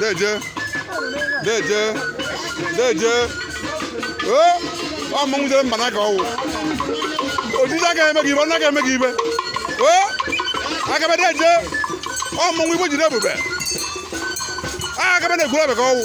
Deje. Deje. Deje. Ee, ọ mmanwụ jere mba n'aka ọwụ. Ojiji aka eme gị ibe, ọ naghị eme gị ibe. Ee, akabe deje. Ọ mmanwụ igbo jide ebube. A akabe na-egwuru abịa ka ọ wụ.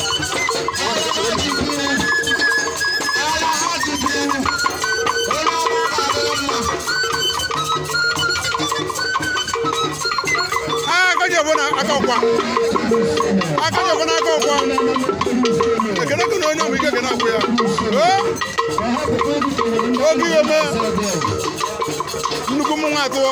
akọkwa akọkwa na akọkwa ekele gị na onye ọmụ ike ga na-akwụ ya oge ihe mee nnukwu mmanwụ atụọ